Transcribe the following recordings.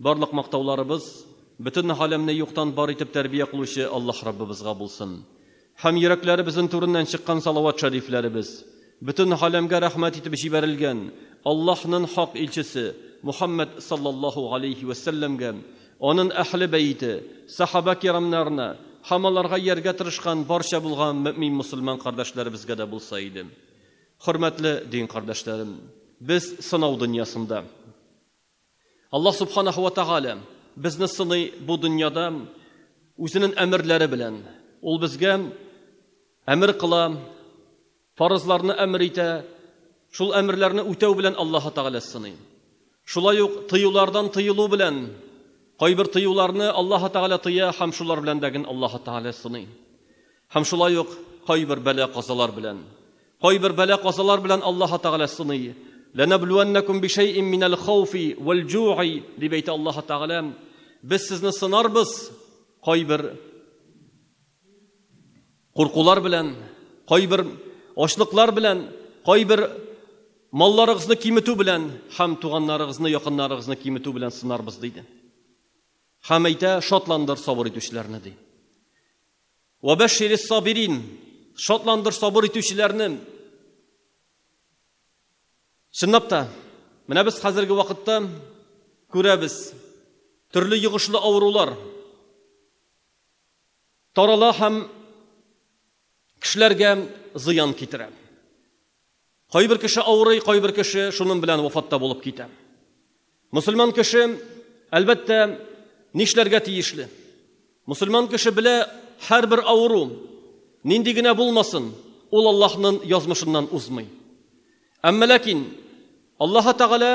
Барлык мактауларыбыз бөтен галәмне юктан бар итеп тәрбия кылучы Аллаһ Раббыбызга булсын. Һәм йөрәкләребезнең түреннән чыккан салават шәрифләребез бөтен галәмгә рәхмәт итеп җибәрелгән Аллаһнын хак илчесе Мухаммәд саллаллаһу галәйһи вә сәлләмгә, анын әһле бәете, сахабә-кирамнарына һәм аларга ияргә тырышкан барча булган мөэмин мөселман кардәшләребезгә дә булса иде. Хөрмәтле дин кардәшләрем, без сынау дөньясында. Аллаһ Субханаһу ва Тәгалә безне сыный бу дөньяда үзенең әмерләре белән. Ул безгә әмер кыла, фарызларны әмер итә, шул әмерләрне үтәү белән Аллаһы Тәгалә сыный. Шулай ук тыюлардан тыелу белән, кайбер тыюларны Аллаһы Тәгалә тыя һәм шулар белән дә ген Аллаһы Тәгалә сыный. Һәм шулай ук кайбер бәла-казалар белән. Кайбер бәла-казалар белән Аллаһы Тәгалә сыный. Ләнәблүәннәкүм бишәйин минәл хауфи вәлҗуи, дип әйтә Аллаһы Тәгалә, Без сезне сынарбыз кайбер. Куркулар белән, кайбер ачлыклар белән, кайбер малларыгызны киметү белән һәм туганнарыгызны, якыннарыгызны киметү белән сынарбыз, диде. Һәм әйтә, шатландыр сабыр итүчеләрне, ди. Вәбәширис сабирин, шатландыр сабыр итүчеләрне. Чынлап та, менә без хәзерге вакытта күрәбез, төрле йогышлы авырулар, тарала һәм кешеләргә зыян китерә. Кайбер кеше авырый, кайбер кеше шуның белән вафатта булып китә. Мусульман кеше, әлбәттә, нишләргә тиешле? Мусульман кеше белә, һәрбер авыру, нинди генә булмасын, ул Аллаһның язмышыннан узмый. Әмма ләкин Аллаһы Тәгалә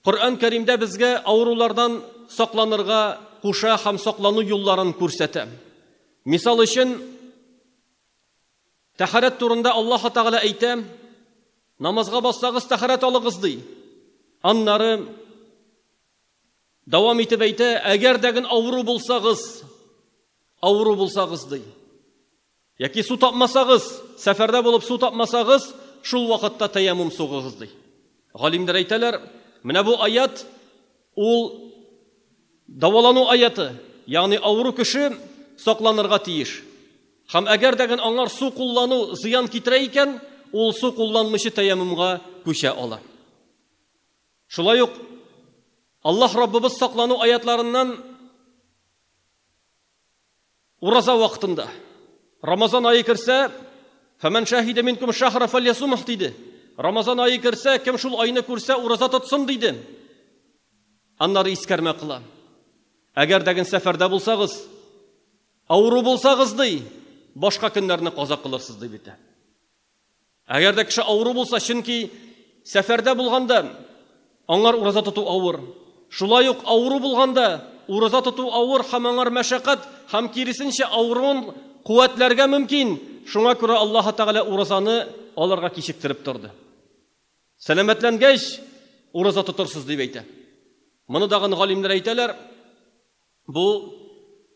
Коръән Кәримдә безгә авырулардан сакланырга куша һәм саклану юлларын күрсәтә. Мисал өчен, тәһарәт турында Аллаһы Тәгалә әйтә, намазга бассагыз тәһарәт алыгыз ди. Аннары дәвам итеп әйтә, әгәр дәген авыру булсагыз, авыру булсагыз ди. Яки су тапмасагыз, сәфәрдә булып су тапмасагыз, шул вакытта тәяммум сугыгыз, ди. Галимнәр әйтәләр, менә бу аят ул давалану аяты, ягъни авыру кеше сакланырга тиеш. Һәм әгәр дә гын аңар су куллану зыян китерә икән, ул су кулланмыйча тәяммумга күчә ала. Шулай ук Аллаһ Раббыбыз саклану аятларыннан Ураза вакытында. Рамазан ае керсә, Фәмән шәһидә минкум шәһра фәльясумх диде. Рамазан ае керсә, кем шул айны күрсә, ураза тотсын диде. Аннары искәрмә кыла. Әгәр дәген сәфәрдә булсагыз, авыру булсагыз ди, башка көннәрне каза кылырсыз дип әйтә. Әгәр дә кеше авыру булса, чөнки сәфәрдә булганда аңар ураза тоту авыр. Шулай ук авыру булганда ураза тоту авыр һәм аңар мәшәкать һәм киресенчә авыруын куәтләргә мөмкин, шуңа күрә Аллаһы Тәгалә уразаны аларга кичектереп торды. Сәламәтләнгәч, ураза тотырсыз, дип әйтә. Моны дагын галимнәр әйтәләр. Бу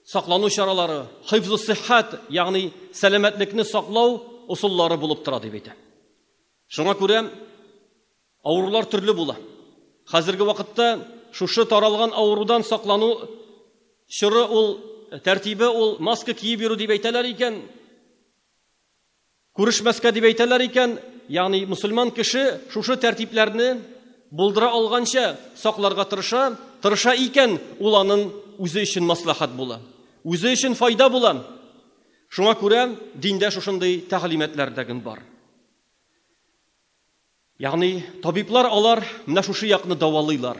саклану чаралары хифзу-сиххәт, ягъни сәламәтлекне саклау усуллары булып тора, дип әйтә. Шуңа күрә авырулар төрле була. Хәзерге вакытта шушы таралган авырудан саклану чоры ул, тәртибе ул маска киеп йөрү дип әйтәләр икән. Күрешмәскә дип әйтәләр икән, ягъни мөселман кеше шушы тәртипләрне булдыра алганча сакларга тырыша, тырыша икән, ул анын үзе өчен мәсләхәт була, үзе өчен файда була. Шуңа күрә диндә шушындый тәгълиматлар дәген бар. Ягъни табиблар алар менә шушы якны дәвалыйлар.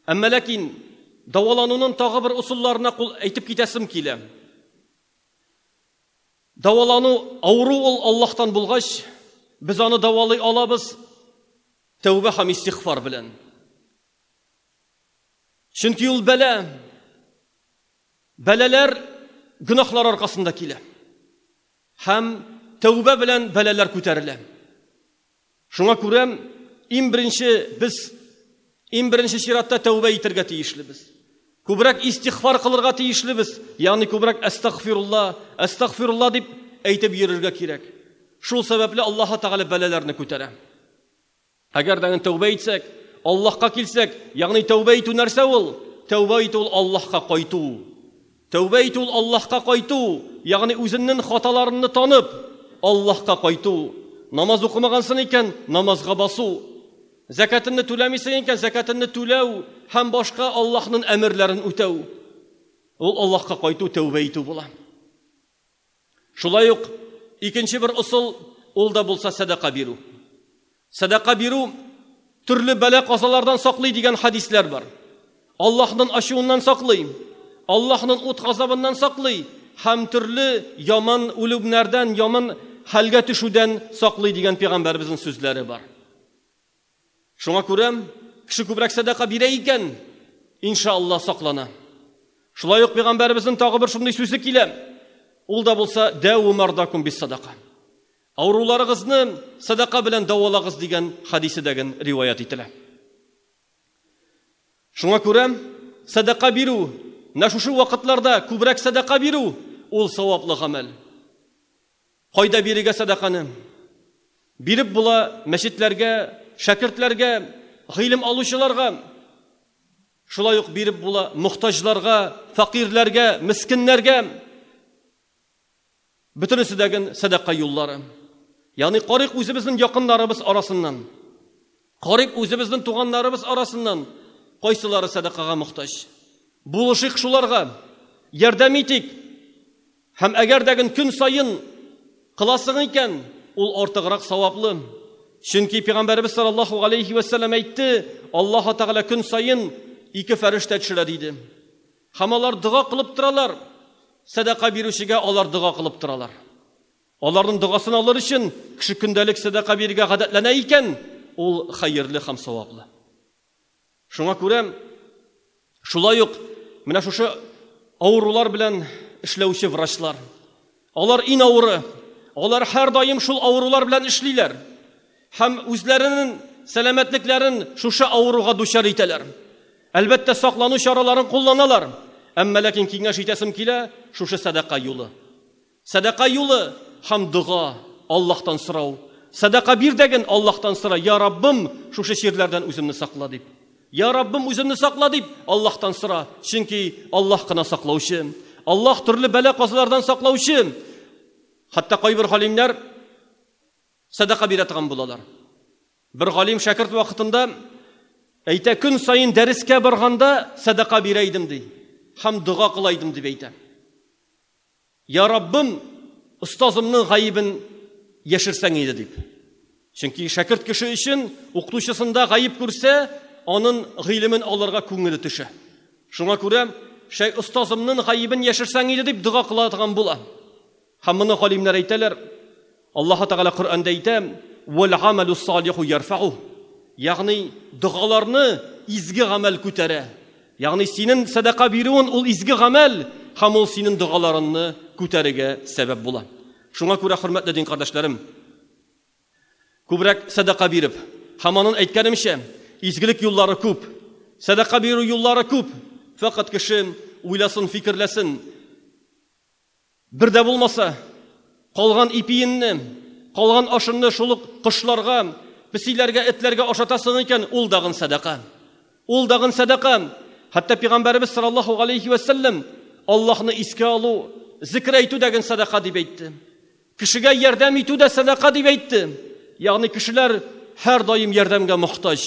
Әмма ләкин дәваланунын тагы бер усулларына кул әйтеп китәсем килә. Дәвалану, авыру ул Аллаһтан булгач, без аны дәвалый алабыз тәүбә һәм истигъфар белән. Чөнки ул бәла, бәлаләр гөнаһлар аркасында килә. Һәм тәүбә белән бәлаләр күтәрелә. Шуңа күрә иң беренче без иң беренче чиратта тәүбә итәргә тиешлебез. Күбрәк истигъфар кылырга тиешлебез, ягъни күбрәк әстәгъфирулла, әстәгъфирулла дип әйтеп йөрергә кирәк. Шул сәбәпле Аллаһ Тәгалә бәлаләрне күтәрә. Әгәр дә тәүбә итсәк, Аллаһка килсәк, ягъни тәүбә итү нәрсә ул? Тәүбә итү ул Аллаһка кайту. Тәүбә итү ул Аллаһка кайту, ягъни үзеннен хаталарынны танып, Аллаһка кайту. Намаз укымагансың икән, намазга басу. Зәкәтенне түләмисең икән, зәкәтенне түләү һәм башка Аллаһнын әмерләрен үтәү. Ул Аллаһка кайту, тәүбә итү була. Шулай ук икенче бер ысул, ул да булса сәдака бирү. Сәдака бирү төрле бәла-казалардан саклый дигән хадисләр бар. Аллаһның ачуыннан саклый, Аллаһның ут газабыннан саклый һәм төрле яман үлемнәрдән, яман хәлгә төшүдән саклый дигән пәйгамбәребезнең сүзләре бар. Шуңа күрә кеше күбрәк сәдака бирә икән, иншаалла, саклана. Шулай ук пәйгамбәребезнең тагы бер шундый сүзе килә. Ул да булса, дәву мардакум бис садака. Авыруларыгызны садака белән давалагыз дигән хадисе дәген риваят ителә. Шуңа күрә садака бирү, менә шушы вакытларда күбрәк садака бирү ул саваплы гамәл. Кайда бирергә сәдаканы? Биреп була мәчетләргә, шәкертләргә, гыйлем алучыларга. Шулай ук биреп була мохтаҗларга, факирләргә, мескеннәргә. Бөтенесе дә гел сәдака юллары. Ягъни карыйк үзебезнең якыннарыбыз арасыннан. Карыйк үзебезнең туганнарыбыз арасыннан кайсылары сәдакага мохтаҗ. Булышыйк шуларга, ярдәм итик. Һәм әгәр дә гөн көн саен кыласың икән, ул артыграк саваплы. Чөнки пигамбәребез саллаллаһу галәйһи вә сәлләм әйтте, Аллаһ Тәгалә көн саен ике фәрештә төшерә диде. Һәм алар дога кылып торалар. Сәдака бирүчегә алар дога кылып торалар. Аларның догасын алыр өчен кеше көндәлек сәдака бирергә гадәтләнә икән, ул хәерле һәм саваплы. Шуңа күрә шулай ук менә шушы авырулар белән эшләүче врачлар, алар иң авыры, алар һәрдаим шул авырулар белән эшлиләр һәм үзләренең сәламәтлекләрен шушы авыруга дучар итәләр. Әлбәттә, саклану чараларын кулланалар, әмма ләкин киңәш итәсем килә, шушы сәдака юлы. Сәдака юлы һәм дога, Аллаһтан сорау. Сәдака бир дәген Аллаһтан сора, я Раббым, шушы чирләрдән үземне сакла дип. Я Раббым, үземне сакла дип Аллаһтан сора, чөнки Аллаһ кына саклаучы. Аллаһ төрле бәла-казалардан саклаучы. Хәтта кайбер галимнәр сәдака бирә торган булалар. Бер галим шәкерт вакытында әйтә, көн саен дәрескә барганда сәдака бирә идем ди, һәм дога кыла идем дип әйтә. Я Раббым, остазымның гаебен яшерсәң иде дип. Чөнки шәкерт кеше өчен укытучысында гаеп күрсә, анын гыйлемен алырга күңеле төшә. Шуңа күрә шәй остазымның гаебен яшерсәң иде дип дога кыла торган була. Һәм моны галимнәр әйтәләр, Аллаһы Тәгалә Коръәндә әйтә, Вәлгамәлү салиху ярфәгуһ, ягъни догаларны изге гамәл күтәрә. Ягъни синен сәдака бирүен ул изге гамәл һәм ул синен догаларынны күтәрегә сәбәп була. Шуңа күрә, хөрмәтле дин кардәшләрем, күбрәк сәдака биреп, һәм анын әйткәнемчә, изгелек юллары күп, сәдака бирү юллары күп, фәкать кеше уйласын, фикерләсен, Бер дә булмаса, калган ипиенне, калган ашынны шул ук кошларга, песиләргә, этләргә ашатасың икән, ул дагын сәдака. Ул дагын сәдака. Хәтта пигамбәребез саллаллаһу алейхи вә сәлләм Аллаһны искә алу, зикр әйтү дә генә сәдака дип әйтте. Кешегә ярдәм итү дә сәдака дип әйтте. Ягъни кешеләр һәр даим ярдәмгә мохтаҗ.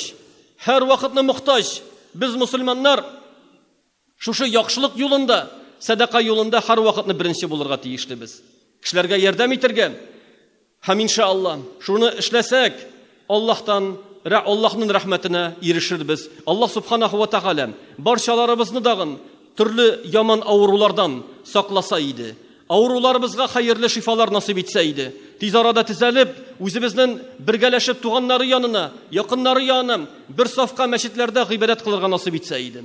Һәр вакытны мохтаҗ. Без мусульманнар Шушы яхшылык юлында, сәдака юлында һәрвакытны беренче булырга тиешлебез. Кешеләргә ярдәм итәргә. Һәм иншаАллаһ, шуны эшләсәк, Аллаһтан, Аллаһның рәхмәтенә ирешербез. Аллаһ Субханаһу ва Тәгалә барчаларыбызны дагын төрле яман авырулардан сакласа иде. Авыруларыбызга хәерле шифалар насыйп итсә иде. Тиз арада тезәлеп, үзебезнен бергәләшеп туганнары янына, якыннары янына бер сафка мәчетләрдә гыйбадәт кылырга насыйп итсә иде.